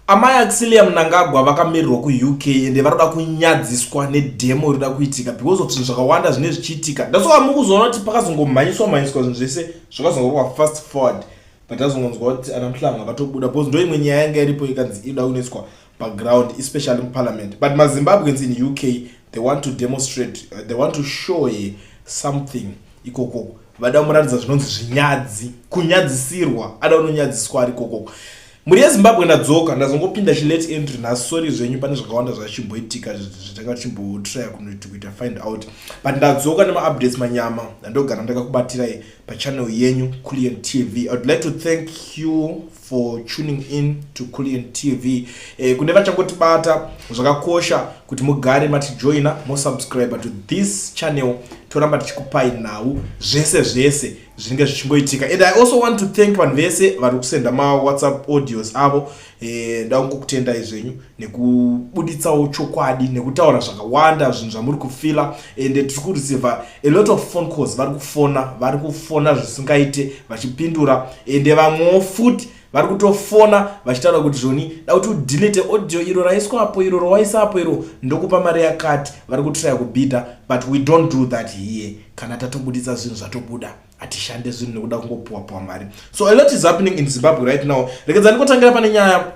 Amai Axilia Mnangagwa vakamirirwa kuUK ende vanoda kunyadziswa nedemo rinoda kuitika because of zvinhu zvakawanda zvine zvichiitika that's why mukuzoona kuti pakazongomhanyiswa mhanyiswa zvinhu zvese zvakazongorwa fast forward but azongonzwa kuti ana Mhlanga vatobuda because ndo imwe nyaya yanga iripo ikanzi inoda kunoiswa paground especially muparliament but maZimbabweans in UK they want to demonstrate uh, they want to show ye something ikoko vada kumuratidza zvinonzi zvinyadzi kunyadzisirwa ada kunonyadziswa ari kokoko Mhuri yeZimbabwe ndadzoka ndazongopinda chilate entry nhasi sorry zvenyu pane zvakawanda zvachimboitika zvatanga tichimbotraya kunoiti kuita find out but ndadzoka nemaupdates manyama ndandogara ndakakubatirai pachannel yenyu cullian tv i would like to thank you for tuning in to cullian tv eh, kune vachangotibata zvakakosha kuti mugare matijoina mosubscriber to this channel toramba tichikupai nhau zvese zvese zvinenge zvichingoitika and i also want to thank vanhu vese vari kusenda mawhatsapp audios avo eh, ndangokutendai zvenyu nekubuditsawo chokwadi nekutaura zvakawanda zvinhu zvamuri kufila and tiri kureceiva a lot of phone calls vari kufona vari kufona zvisingaite vachipindura and vamwewo futi vari kutofona vachitaura kuti zvoni da kuti udelete audio iro raiswapo iro rowaisapo iro ndokupa mari yakati vari kutraya kubhidha but we don't do that here kana tatobuditsa zvinhu zvatobuda hatishande zvinhu nekuda kungopuwapuwa mari so a lot is happening in zimbabwe right now rekedza ndikotangira pane nyaya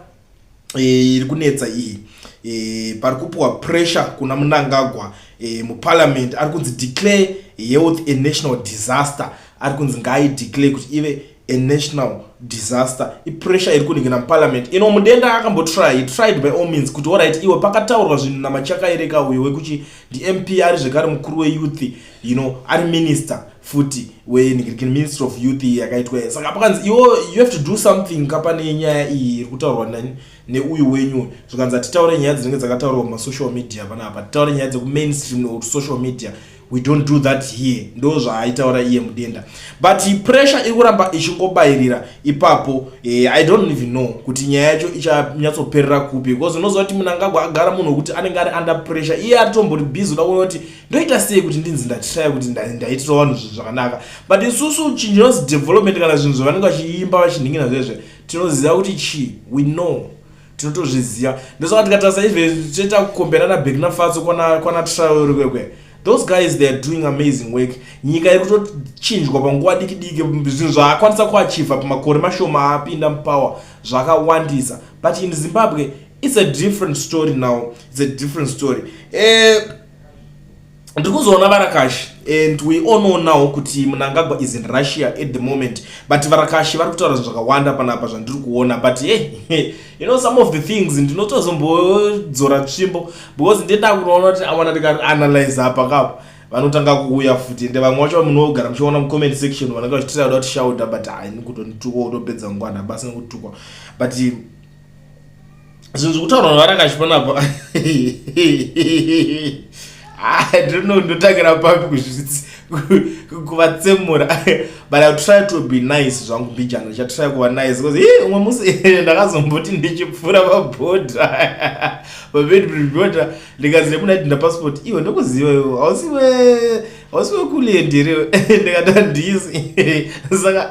e, iri kunetsa iyi e, pari kupiwa pressure kuna munangagwa e, muparliament ari kunzi declare health a national disaster ari kunzi ngaaideclare kuti ive a national disaster ipressure iri kuningina muparliament ino mudenda akambotry he tried by all means kuti orit iwe pakataurwa zvinhu namachakaereka uyo wekuti ndimp ari zvekare mukuru weyouth you know ari minister futi wenhikirikini minister of youth iyi yakaitwa iya saka pakanzi iwo you have to do something ka pane nyaya iyi iri kutaurwa nani neuyu wenyu zvikanzi hatitaure nyaya dzinenge dzakataurwa kumasocial media pana apa titaure nyaya dzekumainstream or social media we don't do that here ndo zvaaitaura iye mudenda but pressure iri kuramba ichingobayirira ipapo eh, i don't even know kuti nyaya yacho ichanyatsoperera kupi because unoziva kuti munangagwa agara munhu wekuti anenge ari under pressure iye atombori busy uda kuona kuti ndoita sei kuti ndinzi ndatirayo kuti ndaitira vanhu zvinhu zvakanaka but isusu chinhu chinonzi development kana zvinhu zvavanenge vachiimba vachinhingina zvezve tinoziva kuti chii we know tinotozviziva ndosaka tikatarisa ive toita kukomberana bek nafatso kwana trial rikwekwe those guys they are doing amazing work nyika iri kutochinjwa panguva diki diki zvinhu zvaakwanisa kuachiva pamakore mashoma apinda mupower zvakawandisa but in zimbabwe it's a different story now it's a different story eh, ndiri kuzoona varakashi and we all know now kuti munangagwa is in russia at the moment but varakashi vari kutaura zvinhu zvakawanda panapa zvandiri kuona but hey, eh, you know some of the things ndinotozombodzora tsvimbo because ndinoda kunoona kuti awana ndikaanalyze apa kapo vanotanga kuuya futi ende vamwe vacho vamunogara muchiona mucomment section vanenge vachitira kuda kuti shauda but haini kutonitukwa kutopedza ngwana basi nekutukwa but zvinhu zvokutaurwa navarakachiona apa adino ah, ndotangira papi kuzvizvitsi kuvatsemura but i try to be nice zvangu mbijana ndichatry kuva nice because hii umwe musi ndakazomboti ndichipfuura pabhodha pabedbodha ndikazi nekuna dinda passport iwe ndokuziva iwo hausiwe hausiwe kuliendiriwe ndikata ndisi saka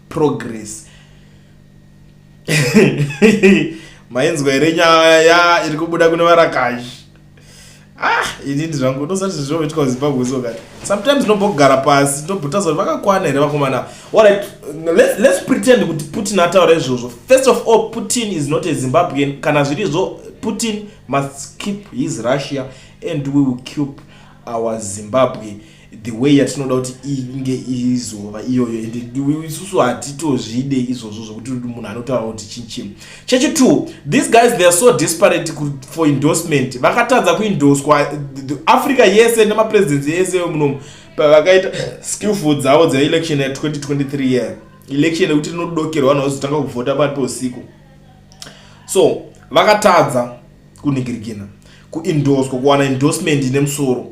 progress mainzwa here nyaya iri kubuda kune varakashi ah ini ndi zvangu ndosati zvizoitwa zimbabwe so kati sometimes ndinombogara pasi ndobhuta zoti vakakwana here vakomana allright let's, let's pretend kuti putin ataura izvozvo first of all putin is not a zimbabwean kana zviri zvo putin must keep his russia and we will keep our zimbabwe the way yatinoda kuti inge izova iyoyo and isusu hatitozvide izvozvo zvokuti munhu anotaura kuti chinchim chechi two these guys they are so disparate for endorsement vakatadza kuindoswa africa yese nemapresidency yese munomu pavakaita skillful dzavo dzeelection ya 2023 year election yekuti rinodokerwa vanhu vazotanga kuvhota pari peusiku so vakatadza kunigirigina kuindoswa kuwana endorsement ine musoro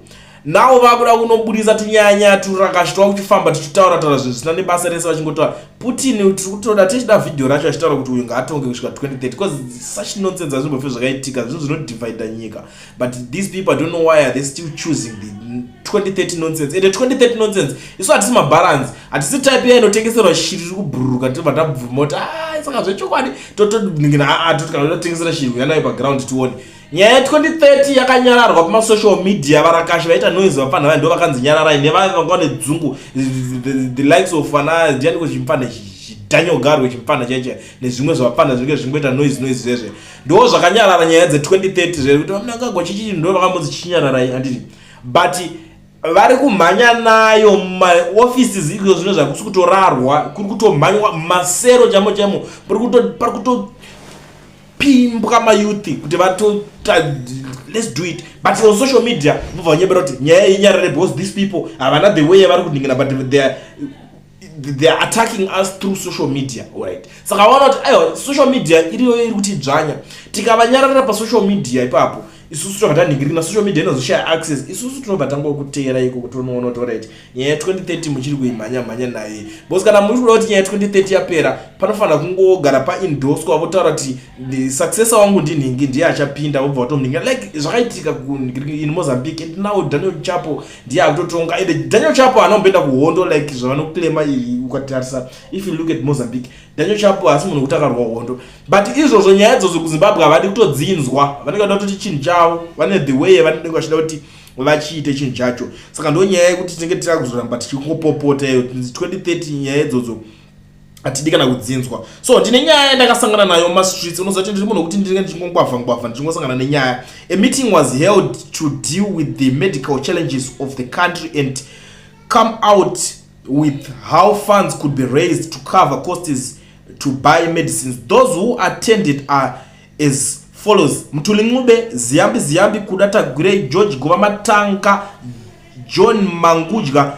nawo vakuda kunobudisa tunyanya turakashitwa kuchifamba tichitaura taura zvinhu zvisina nebasa rese vachingotaura putin tiri kutoda tichida vhidhiyo racho achitaura kuti uyu ngaatonge kusvika 2030 because such nonsense azvimbofe zvakaitika zvinhu zvinodivida nyika but these people don't know why are they still choosing the 2030 nonsense ende 2030 nonsense isu hatisi mabalansi hatisi type iya inotengeserwa shiri ri kubhururuka tibva tabvuma kuti a ah, saka zvechokwadi totodingira aa toti kana totengesera shiri uya nayo paground tione nyaya ye 2030 yakanyararwa kumasocial media varakashi vaita noise vapfanha vayo ndo vakanzi nyararai nevave vanga vane dzungu the likes of ana ndianiko chimpfanha chidanyogarwe chimpfanha chaicha nezvimwe zvavapfanha zvinenge zvingoita noise noise zvezve ndo zvakanyarara nyaya dze 2030 zvekuti vamunangagwa chichii ndo vakambonzi chichinyararai anditi but vari kumhanya nayo mumaoffices izvo zvino zvakusi kutorarwa kuri kutomhanywa mumasero chamo chamo pari kutopimbwa mayouth kuti vatota let's do it but on social media vobva vanyebera kuti nyaya yenyarare because these people havana the way yavari kuningina but theyare they are attacking us through social media right saka vaona kuti aiwa social media iriyo iri kuti dzvanya tikavanyararira pasocial media ipapo isusu tinobva tanhingirina social media inozoshaya access isusu tinobva tangokuteera iko kuti unoona kuti orit nyaya ya 2030 muchiri kuimhanya mhanya naye bcause kana muri kuda kuti nyaya ya 2030 yapera panofanira kungogara paindoswa votaura kuti successor wangu ndinhingi ndiye achapinda vobva vatomhingira like zvakaitika in mozambique and now daniel chapo ndiye akutotonga ende daniel chapo haana kumboenda kuhondo like zvavanoclaima iyi ukatarisa if you look at mozambique daniel chapo haasi munhu wekuti akarwa hondo but izvozvo nyaya idzodzo kuzimbabwe havadi kutodzinzwa vanenge vada kutoti chinhu chavo vane the way yavanenge vachida kuti vachiite chinhu chacho saka ndo nyaya yekuti tinenge tira kuzoramba tichingopopota iyo 2030 nyaya idzodzo hatidi kana kudzinzwa so ndine nyaya yandakasangana nayo mumastreets unoziva kuti ndiri munhu wekuti ndinenge ndichingongwavha ngwavha ndichingosangana nenyaya a meeting was held to deal with the medical challenges of the country and come out with how funds could be raised to cover costs to buy medicines those who attended are as follows mtuli ncube ziyambi ziyambi kuda tagwirei george gova matanga john mangudya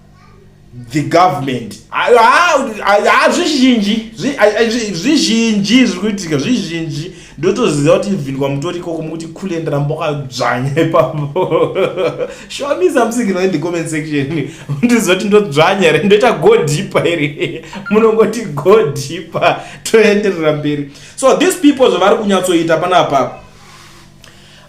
the government hazvizhinji zvizhinji zviri kuitika zvizhinji ndotoziva kuti even kwamutori ikoko mukuti khule ndiramba ukadzvanya ipapo show me something no in the comment section ndiziva kuti ndodzvanya here ndoita go deeper here munongoti go deeper toenderera mberi so these people zvavari kunyatsoita panapa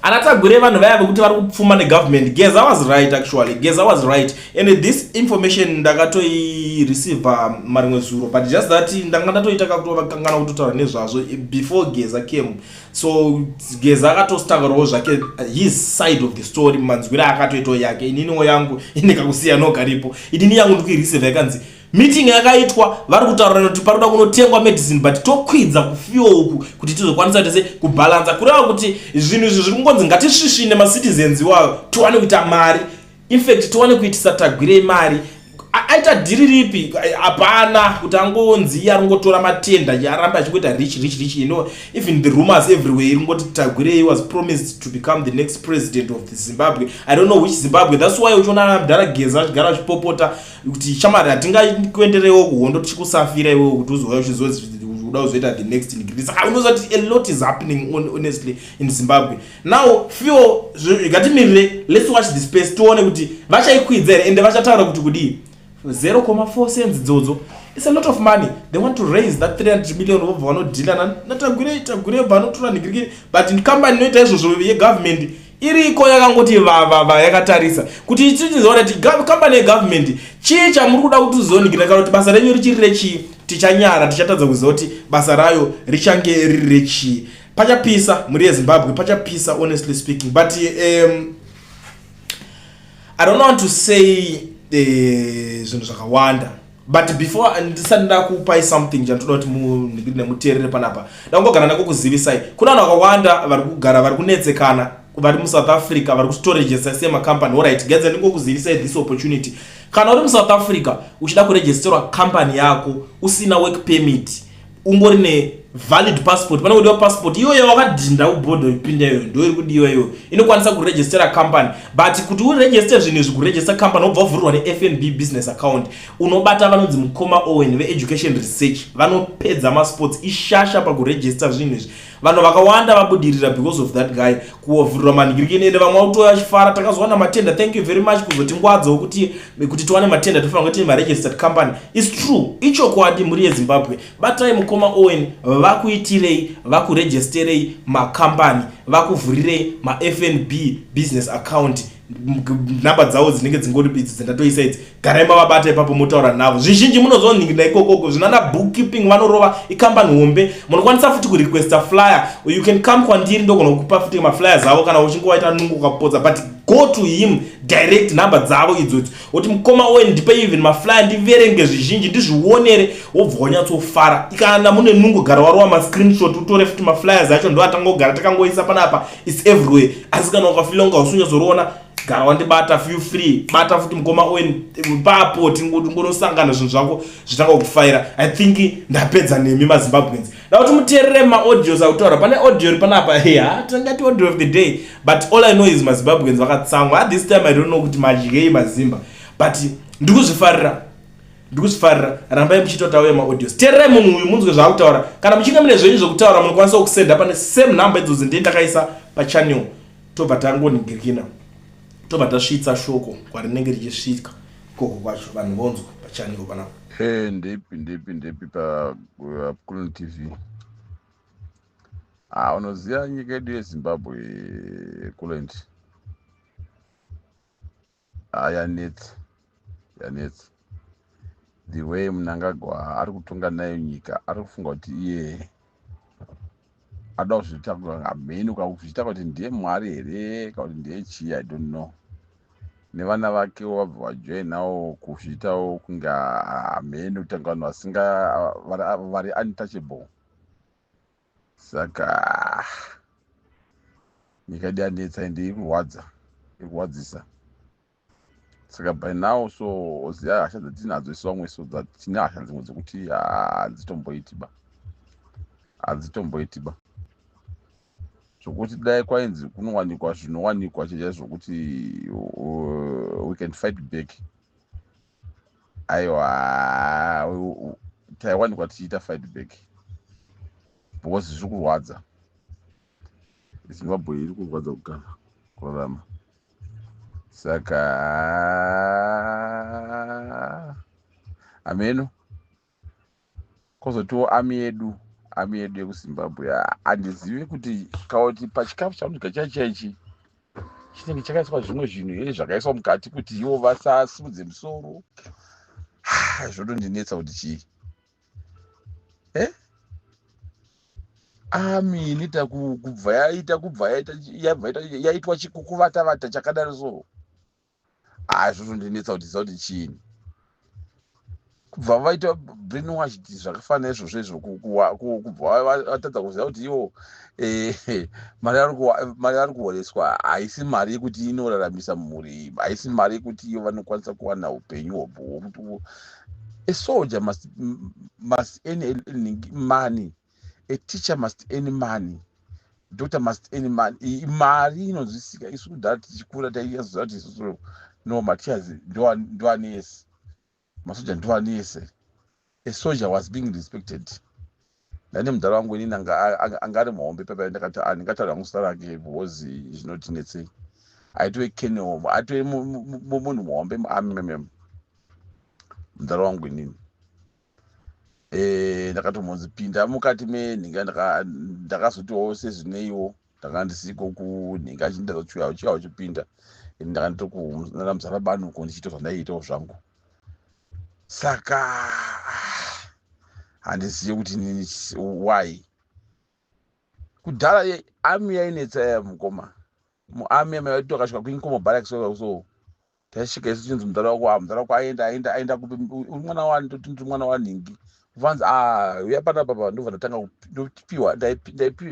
Ana Tagwire vanhu vaya vekuti vari kupfuma negovernment. Geza was right actually. Geza was right. And this information ndakatoi receive marimwe zuro but just that ndanga ndatoita kakutova kangana kutotaura nezvazvo before Geza came. So Geza akatostaurawo zvake his side of the story manzwira akatoitawo yake. Inini yangu inekakusiya nokaripo. Inini yangu ndikuireceive yakanzi Meeting yakaitwa vari kutaura kuti panoda kunotengwa medicine but tokwidza kufiwa uku kuti tizokwanisa tese kubalansa kureva kuti zvinhu izvi zviri kungonzi ngatisvisvine macitizens iwayo tiwane kuita mari infact tiwane kuitisa tagwirei mari aita dhiri ripi hapana kuti angonzi iye aringotora matenda aramba achingoita rich rich rich you know even the rumors everywhere iringoti tagwirei was promised to become the next president of the zimbabwe i don't know which zimbabwe thats why uchiona mdhara geza achigara achipopota kuti chamari hatingakuenderewo kuhondo tichikusafira iwe kuti uzouya uchizoda kuzoita the next degree saka unoziva kuti a lot is happening honestly in zimbabwe now few ngatimirire let's watch the space tione kuti vachaikwidza here ende vachataura kuti kudii 0,4 cents dzodzo it's a lot of money they want to raise that 300 million vobva vanodhila natagure tagure vanotora nigirigiri but company inoita izvozvo yegovernment iriko yakangoti vavava yakatarisa kuti ichizoona ti company yegovernment chii chamuri kuda kuti uzonikira kana kuti basa renyu richiri rechii tichanyara tichatadza kuziva kuti basa rayo richange riri rechii pachapisa mhuri yezimbabwe pachapisa honestly speaking but um, i don't want to say eh, zvinhu uh, zvakawanda but before ndisati ndakupai something chandoda kuti nemuteerere panapa ndakungogara nako kuzivisai kuna vanhu vakawanda vari kugara vari kunetsekana vari musouth africa vari kustoregesta semacompany orit gedza ndingokuzivisai this opportunity kana uri musouth africa uchida kuregisterwa company yako usina work permit ungori ne valid passport pane kudiwa passport iyoyo yawakadhinda kubhodha ipinda iyoyo ndo iri kudiwa iyoyo inokwanisa kuregistera company but kuti uregiste zvinhu izvi kuregista company wobva wavhurirwa nefnb business account unobata vanonzi mukoma owen veeducation research vanopedza masports ishasha pakuregista zvinhu izvi vanhu vakawanda vabudirira because of that guy kuovhurira manhirikini ende vamwe vakutoya achifara takazowana matenda thank you very much kuzotingwadzawo kuti kuti tiwane matenda tofanira kuti maregistered company is true ichokwadi mhuri yezimbabwe batai mukoma owen vakuitirei vakuregisterei makambani vakuvhurirei mafnb business account nhamba dzavo dzinenge dzingori bidzi dzendatoisa idzi garai mavabata ipapo motaura navo zvizhinji munozonhingira ikokoko zvinana bookkeeping vanorova ikambani hombe munokwanisa futi kurequesta flyer you can come kwandiri ndogona kukupa futi maflyer zavo kana uchingovaita nungu ukapotsa but go to him direct number dzavo idzodzo woti mukoma oe ndipe even maflyer ndiverenge zvizhinji ndizvionere wobva wanyatsofara kana mune nungu gara warova mascreenshot utore futi maflyers acho ndoatangogara takangoisa panapa its everywhere asi kana ukafila kunga usunyazoriona gara wandibata feel free bata futi mukoma owen papo tingonosangana zvinhu zvako zvitanga kufaira i think ndapedza nemi mazimbabweans da kuti muteerere maaudios akutaura pane audio ri panapa ya tingati audio of the day but all i know is mazimbabweans vakatsamwa at this time i don't know kuti madyei mazimba but ndikuzvifarira ndikuzifarira rambai muchitotaura maaudios tererai munhu uyu munzwe zvaakutaura kana muchinge mune zvenyu zvekutaura munokwanisa kusenda pane same number idzozi ndiye ndakaisa pachannel tobva tangoningirikina tobva tasvitsa shoko kwarinenge richisvika ikoko kwacho vanhu vonzwa pachannel panapa e ndepi ndepi ndepi pakulun uh, tv a ah, unoziva nyika yedu yezimbabwe kulanti Ah, yanetsa yanetsa the way munangagwa ari kutonga nayo nyika ari kufunga kuti iye ada kuzviita amheni ukakuzviita kuti ndiye mwari here kana kuti ndiye chii i don't know nevana vakewo vabva vajoinawo kuzviitawo kunge amheni kutanga vanhu vasinga vari untouchable saka nyika yedu yanetsa ende ikurwadza ikurwadzisa saka by now so ziya hasha dzatinadzo isu vamwe so dzatine hasha dzimwe dzekuti hadzitomboiti ba hadzitomboiti ba zvokuti dai kwainzi kunowanikwa zvinowanikwa chaizvo zvokuti uh, we can fight back aiwa taiwanikwa tichiita fight back because zviri kurwadza zimbabwe iri kurwadza kugara kurarama saka hameno kozotiwo ami yedu ami yedu yekuzimbabwe handizivi kuti kauti pachikafu chaunodya chai chaichi chinenge chakaiswa zvimwe zvinhu here zvakaiswa mukati kuti ivo vasasimudze musoro zvotondinetsa kuti chii e ami inoita kubva yaita kubva yaita yaitwa chikukuvatavata chakadaro so haa zvotondinetsa kuti ziva kuti chiini kubva vaita brain wash ti zvakafanira izvozvo izvo kubva vatadza kuziva kuti iwo eh, mari ari kuhoreswa haisi mari yekuti inoraramisa mhuri haisi mari yekuti iyo vanokwanisa kuwana upenyu hobho hwokuti a soldier must, must earn money a teacher must any money doctor must any money mari inonzwisika isu kudhara tichikura taiyazoziva kuti isusu no matias ndoane yese masoja ndoane yese a soldier was being respected ndane mudhara wangu inini anga ari muhombe paipai ndakati ah, ndingataura hangu zita rake bhozi zvinotinetsei aitove kenel aitove munhu muhombe muamm mudhara wangu inini eh, ndakatombonzi pinda mukati menhinga ndakazotiwo sezvineiwo ndanga ndisiko kunhinga achindazochiuya uchiya uchipinda ini ndanga nditokunana muzara banuko ndichiita zvandaiitawo zvangu saka handizive kuti nini why kudhara ami yainetsa yaya mukoma muami amaivaitokasvika kuinkomo baraks so taisvika isu chinzi mudhara wako a ah, mudhara wako aenda aenda aenda kupi uri mwana wani toti ndiri mwana wanhingi vanzi ah, uya pana baba ndobva ndatanga ndopiwa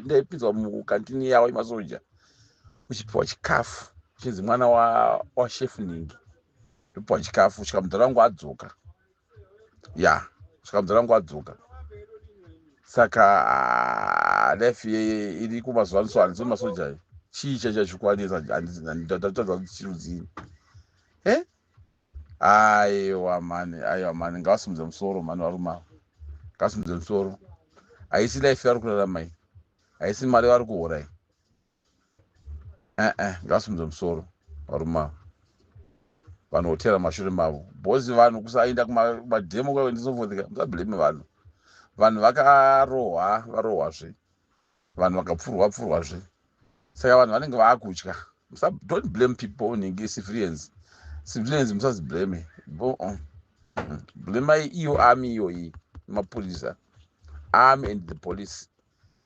ndaipinzwa mukantini yawo yemasoja uchipiwa chikafu chinzi mwana washefu nhingi ndopiwa chikafu svika mudhara wangu adzoka ya svika muzana wangu adzoka saka ah, life iri kumazuva niso handiso masoja iyo chii chachachikwanisa ndatadza kuti chirudzii e aiwa mani aiwa mani ngavasimudze musoro mani varume avo ngavasimudze musoro haisi life yavari kurarama iyi haisi mari yavari kuhora iyi eh, eh, ngasimudze musoro varume avo vanhu votera mashure mavo bhosi vanhu kusaenda kumademo kwaendisofothika musablame vanhu vanhu vakarohwa varohwazve vanhu vakapfurwa pfurwazve saka vanhu vanenge vaakutya don't blame people unenge civilians civilians musaziblame uh-uh. blamai iyo army iyoyi mapurisa army and the police